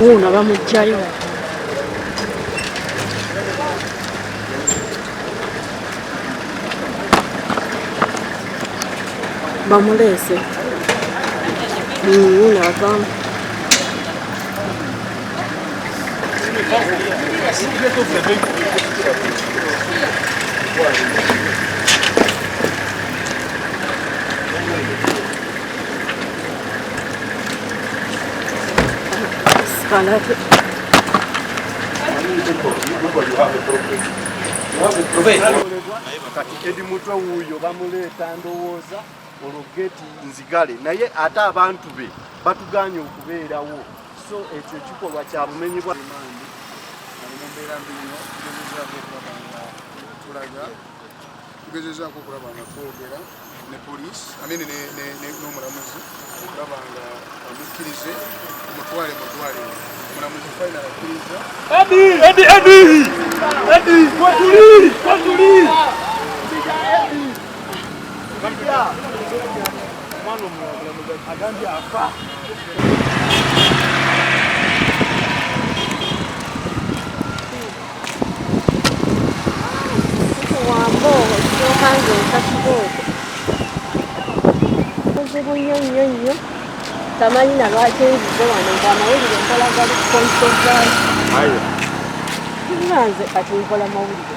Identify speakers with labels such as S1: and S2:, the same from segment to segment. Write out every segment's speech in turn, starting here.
S1: Wuuno bamuggyayo. Bamuleese. Wuuno avaamu. Thank you.
S2: kati edi mutwe wuuyo bamuleeta ndowooza olwo geti nzigale naye ate abantu be batuganye okubeerawo so ekyo ekikolwa kya bumenyi bwa mbeera mbino
S3: tulaga tugezezaako okulaba nga twogera ne poliisi anene n'omulamuzi okulaba nga amukkirize omutwale mu ddwaliro omulamuzi fayina akkiriza
S2: agambye afa
S1: buzibu nnyo nnyo nnyo tamanyi na lwaki nzize wano nti amawulire nkola gali kukonsozayo nze kati nkola mawulire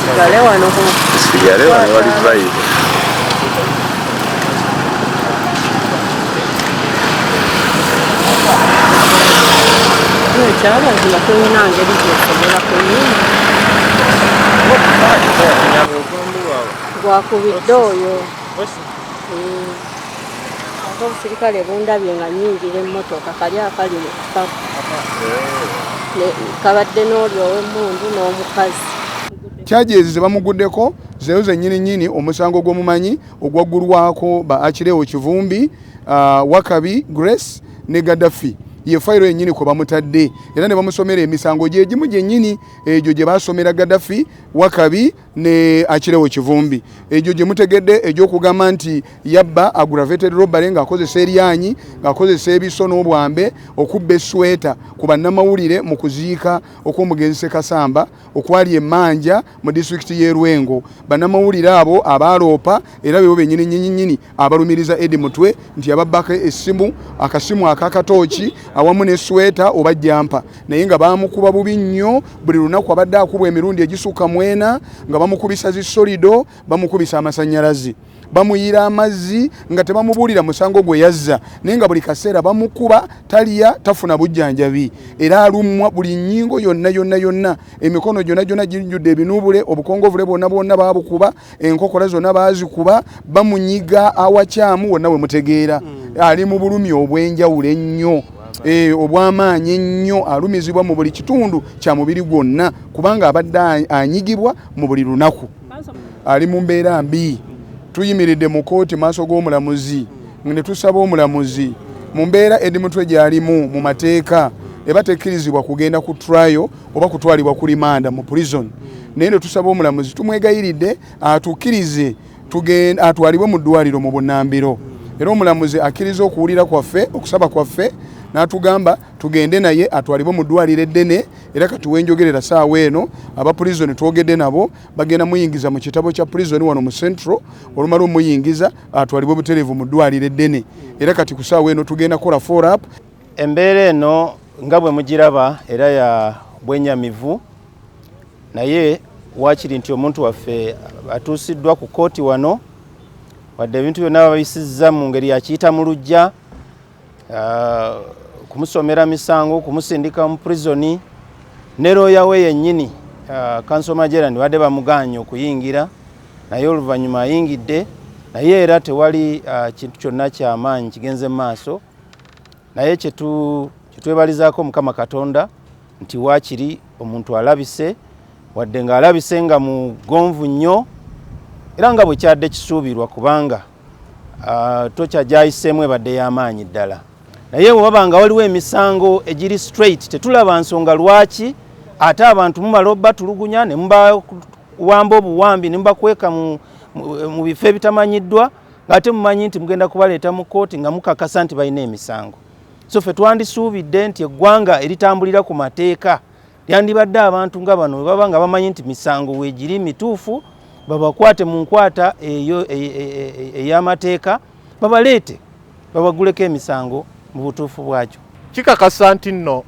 S1: Sigale wano ku. Sigale wano
S4: wali vibe.
S1: Ekyaba nzima kulina ngeri gyesobola kuyima. Gwakubidde oyo. ate obusirikale bundabye nga nyingira emmotoka kali akali mu kukaku kabadde n'oli ow'emmundu n'omukazi kyajezi
S3: ze bamuguddeko zeyo zennyini nyini omusango gw'omumanyi ogwaggulwako ba akireewo kivumbi uh, wakabi grace ne gaddafi ye fayiro yennyini kwe bamutadde era ne bamusomera emisango gye gimu gyennyini egyo gye baasomera gaddafi wakabi ne akirewo kivumbi egyo gye mutegedde egy'okugamba nti yabba aggravated robbery ng'akozesa eryanyi ng'akozesa ebiso n'obwambe okubba esweta ku bannamawulire mu kuziika okw'omugenzi sekasamba okwali emanja mu disitulikiti y'e lwengo bannamawulire abo abaaloopa era bebo bennyini nyinyinyini abalumiriza Eddie Mutwe nti yababbako essimu, akasimu akakatooki awamu ne sweta oba jampa naye nga baamukuba bubi nnyo. Buli lunaku abadde akubwa emirundi egisukka mwena nga bamukubisa zi solido, bamukubisa amasannyalaze, bamuyiira amazzi nga tebamubuulira musango gwe yazza naye nga buli kaseera bamukuba, talya, tafuna bujjanjabi era alumwa buli nnyingo yonna yonna yonna, emikono gyonna gyonna gijjudde ebinuubule, obukongovule bwonna bwonna baabukuba. enkokola zonna baazikuba bamunyiga awakyamu wonna we mutegeera mm. ali mu bulumi obw'enjawulo ennyo eh, obw'amaanyi ennyo alumizibwa mu buli kitundu kya mubiri gwonna kubanga abadde anyigibwa mu buli lunaku ali mu mbeera mbi tuyimiridde mu kooti maaso g'omulamuzi ne tusaba omulamuzi mu mbeera edi mutwe gy'alimu mu mateeka eba tekkirizibwa kugenda ku trayo oba kutwalibwa ku limanda mu prison hmm. naye netusaba omulamuzi tumwegayiridde atukirize atwalibwe mu ddwaliro mu bunambiro hmm. era omulamuzi akkiriza okuwulira kwaffe okusaba kwaffe natugamba tugende naye atwalibwe mu ddwaliro eddene era kati wenjogerera saawa eno aba prison twogedde nabo bagenda muyingiza mu kitabo kya prison wano mu central olumala omuyingiza atwalibwe butereevu mu ddwaliro eddene era kati ku saawa eno tugenda kola forap Embeera eno
S5: nga bwe mugiraba era ya bwenyamivu naye waakiri nti omuntu waffe atuusiddwa ku kkooti wano wadde ebintu byonna babisizza mu ngeri yakiyita mu lujja ah, kumusomera misango kumusindika mu prisoni ne looya we yennyini ah, kanso majerani badde bamugaanye okuyingira naye oluvannyuma ayingidde naye era tewali ah, kintu kyonna kyamaanyi kigenze mu maaso naye kyetwebalizaako mukama katonda nti waakiri omuntu alabise wadde ng'alabise nga mugonvu nnyo era nga bwe kyadde kisuubirwa kubanga ah, tokya gyayiseemu ebadde y'amaanyi ddala naye bwe baba nga waliwo emisango egiri straight tetulaba nsonga lwaki ate abantu mumala obatulugunya ne mubawamba obuwambi ne mubakweka mu bifo ebitamanyiddwa ng'ate mumanyi nti mugenda kubaleeta mu kkooti nga mukakasa nti balina emisango so ffe twandisuubidde nti eggwanga eritambulira ku mateeka lyandibadde abantu nga bano we baba nga bamanyi nti misango weegiri mituufu babakwate mu nkwata eyo e, e, e, ey'amateeka babaleete babaguleko emisango mu butuufu bwakyo kikakasa nti
S6: nno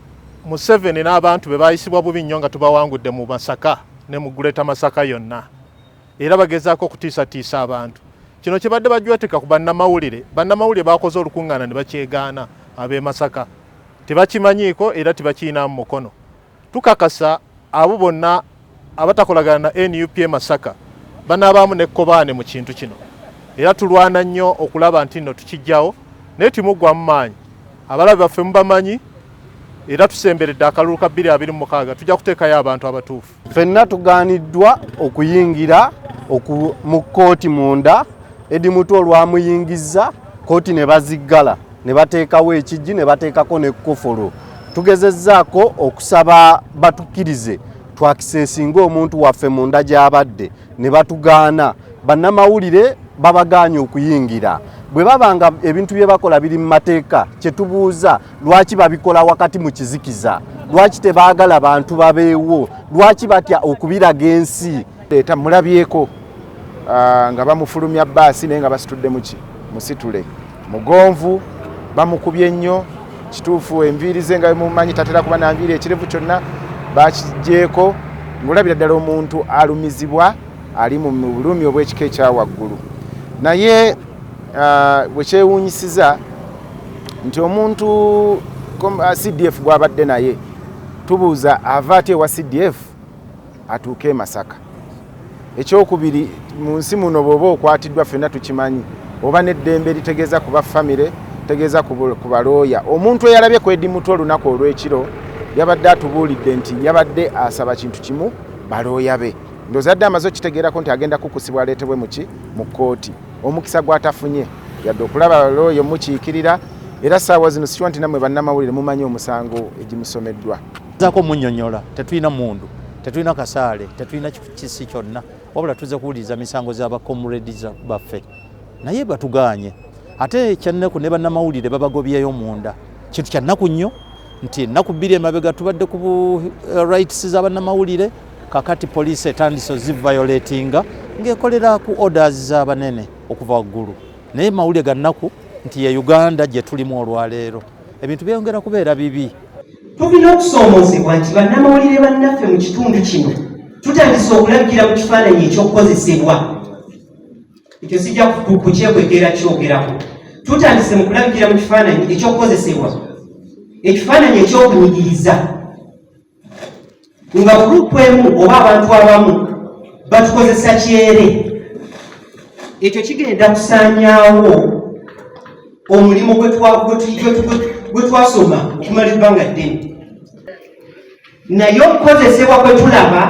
S6: museveni n'abantu be baayisibwa bubi nnyo nga tubawangudde mu masaka ne mu guleta masaka yonna era bagezaako okutiisatiisa abantu kino kyebadde bajwetika ku bannamawulire bannamawulire bakoze olukuŋŋaana ne bakyegaana ab'e masaka tebakimanyiiko era tebakiyinamu mukono tukakasa abo bonna abatakolagana na nup e masaka banaabaamu nekkobaane mu kintu kino era tulwana nnyo okulaba nti nno tukijjawo naye timuggwamu maanyi abalabe baffe mubamanyi era tusemberedde akalulu ka 226 tujja kuteekayo abantu abatuufu Fenna tugaaniddwa
S2: okuyingira mu kkooti munda Edi Mutwe olwamuyingizza kkooti ne baziggala ne bateekawo ekijji ne bateekako n'ekkufulu. Tugezezzaako okusaba batukkirize twakisesinga omuntu waffe munda gy'abadde ne batugaana. Bannamawulire babagaanye okuyingira. Bwe baba nga ebintu bye bakola biri mu mateeka kye tubuuza lwaki babikola wakati mu kizikiza lwaki tebaagala bantu babeewo lwaki batya okubiraga ensi leeta mulabyeko
S7: ah, nga bamufulumya baasi naye nga basitudde muki musitule mugonvu bamukubye nnyo kituufu enviiri ze nga mumanyi tatera kuba nanviiri ekirevu kyonna bakigyeko ngaolabira ddala omuntu alumizibwa ali mu bulumi obw'ekika ekyawaggulu naye bwe kyewuunyisiza nti omuntu ah, cdf gwabadde naye tubuuza ava ati ewa cdf atuuke e masaka ekyokubiri mu nsi muno bw'oba okwatiddwa ffenna tukimanyi oba n'eddembe litegeeza kuba famire tegeeza ku balooya omuntu eyalabye ku edi mutwe olunaku olw'ekiro yabadde atubuulidde nti yabadde asaba kintu kimu balooya be ndozadde amaze okitegeerako nti agenda kukusibwa aleetebwe muki mu kkooti omukisa gwatafunye yadde okulaba looya omukiikirira era saawa zino sikiwa nti namwe bannamawulire mumanyi omusango egimusomeddwa zako munyonyola
S8: tetulina mundu tetulina kasaale tetulina kisi kyonna wabula tuze kuwuliriza misango z'abacomredi baffe naye batuganye ate ekyannaku ne bannamawulire babagobyeyo munda kintu kyannaku nnyo nti ennaku bbiri emabega tubadde ku eh, rights za bannamawulire kakati poliisi etandise ozivayoletinga ng'ekolera ku orders z'abanene okuva waggulu naye mawulire ga nnaku nti ye uganda gye tulimu olwaleero ebintu byeyongera kubeera bibi tulina
S9: okusoomozebwa nti bannamawulire bannaffe mu kitundu kino tutandise okulagira mu kifaananyi ekyokukozesebwa ekyo sijja kukyekwekera kyogerako tutandise mu kulagira mu kifaananyi ekyokukozesebwa ekifaananyi ekyokunyigiriza nga gurupu emu oba abantu abamu batukozesa kyere ekyo kigenda kusanyawo omulimu gwe twasoma okumala ebbanga ddene naye okukozesebwa kwe tulaba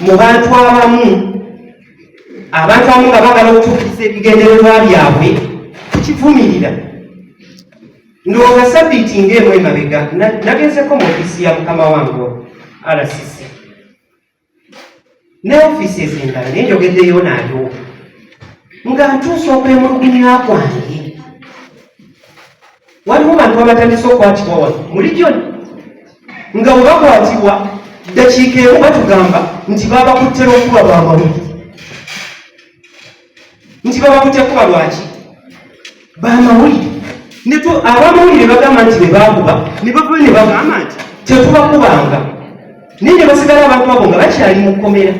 S9: mu bantu abamu abantu abamu nga bagala okutuukiriza ebigendererwa byabwe tukivumirira Ndwo nga sabbiiti ng'emu emabega nagezeko mu ofiisi ya mukama wange RCC ne ofiisi ezindala naye njogeddeyo naayo nga ntuusa okwemulugunya kwange waliwo bantu abatandise okukwatibwa wano muli gyona nga webakwatibwa ddakiika emu batugamba nti babakuttera okuba bwabawuli nti babakute kuba lwaki bamawulire netu abamawulire bagamba nti bebakuba nebava nebagamba nti tetubakubanga naye nebasigala abantu abo nga bakyali mukomera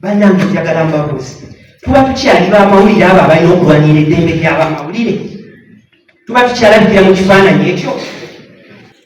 S9: banange njagala mbabuzi tuba tukyali bamawulire abo abalina okulwanira eddembe lyabamawulire tuba tukyalabikira mu kifaananyi ekyo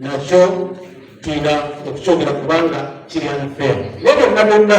S10: nakyo tulina okukyogera kubanga kiri anfeero naye byonna byonna